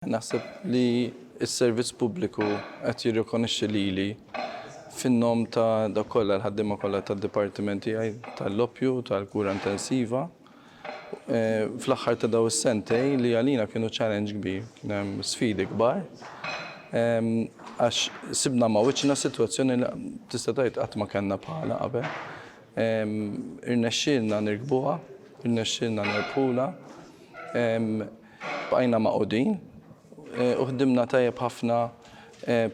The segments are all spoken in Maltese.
Naħseb li s-servizz pubbliku qed jirrikonixxi lili fin-nom ta' dawk kollha l-ħaddiema kollha tad-dipartiment tiegħi tal-loppju, tal-kura intensiva. Fl-aħħar ta' dawn is-sentej li għalina kienu challenge kbir, kien hemm sfidi kbar. Għax sibna ma' wiċċna sitwazzjoni li tista' tgħid qatt ma kellna bħalha qabel. Irnexxielna nirkbuha, irnexxielna nerbħulha. Bqajna magħqudin u ħdimna tajjeb ħafna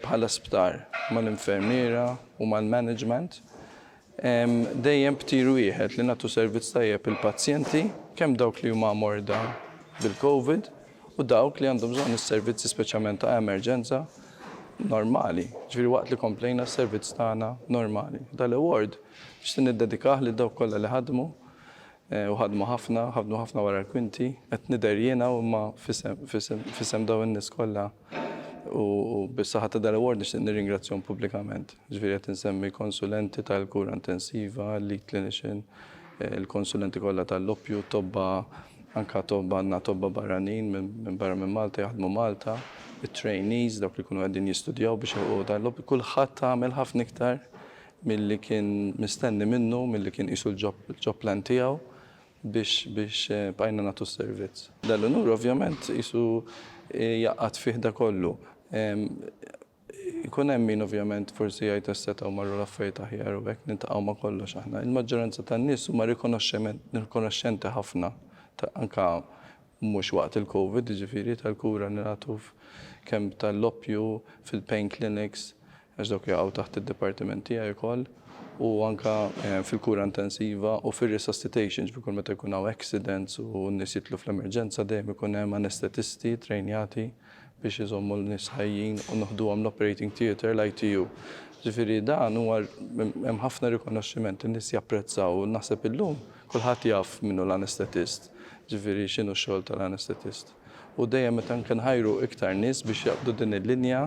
bħala sptar mal-infermiera u mal-management. Dejjem b'tir wieħed li nagħtu servizz tajjeb lill-pazjenti, kemm dawk li huma morda bil-Covid u dawk li għandhom bżonn is-servizzi speċjalment ta' emerġenza normali, ġifieri waqt li komplejna s-servizz tagħna normali. Dan l-award nixtieq niddedikah lil dawk kollha li ħadmu U ħadmu ħafna, ħadmu ħafna wara l-kwinti. Qed nidher jiena u imma f'isem dawn in-nies kollha u bis-saħħa ta' dal-award nixtieq nirringrazzjahom pubblikament. Ġifieri qed insemmi konsulenti tal-kura intensiva, lead clinician, il-konsulenti kollha tal-loppju, tobba, anke tobba għandna tobba barranin minn barra minn Malta jaħdmu Malta, it-trainees, dawk li jkunu qegħdin jistudjaw biex jilħqu dan il-loppju, kulħadd għamel ħafna iktar milli kien mistenni minnu, milli kien qisu l-job plan tiegħu biex bqajna nagħtu s-servizz. Dal-unur ovvjament qisu jgħaqqad fih dak kollu. Ikun hemm min ovvjament forsi jgħid għax setgħu marru l-affarijiet aħjar u hekk, niltaqgħu ma' kollox aħna. Il-maġġoranza tan-nies huma rikonoxxenti ħafna anke mhux waqt il-Covid, jiġifieri tal-kura li nagħtu kemm tal-oppju fil-pain clinics, għax dawk jaqgħu taħt id-dipartiment tiegħi wkoll, u anke fil-kura intensiva u fir-resuscitation, ġifieri kull meta jkun hawn accidents u n-nies jidħlu fl-emerġenza dejjem ikun hemm anestetisti ttrejnjati biex iżommu n-nies ħajjin u noħduhom l-operating theatre, l-ITU. Ġifieri dan huwa hemm ħafna rikonoxximent, in-nies japprezzaw u naħseb illum kulħadd jaf min hu l-anestetist, ġifieri x'inhu x-xogħol tal-anestetist. u dejjem qed anke nħajru iktar nies biex jaqbdu din il-linja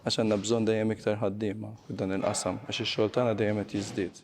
għax għandna bżonn dejjem iktar ħaddiema f'dan il-qasam għax ix-xogħol tagħna dejjem qed jiżdied.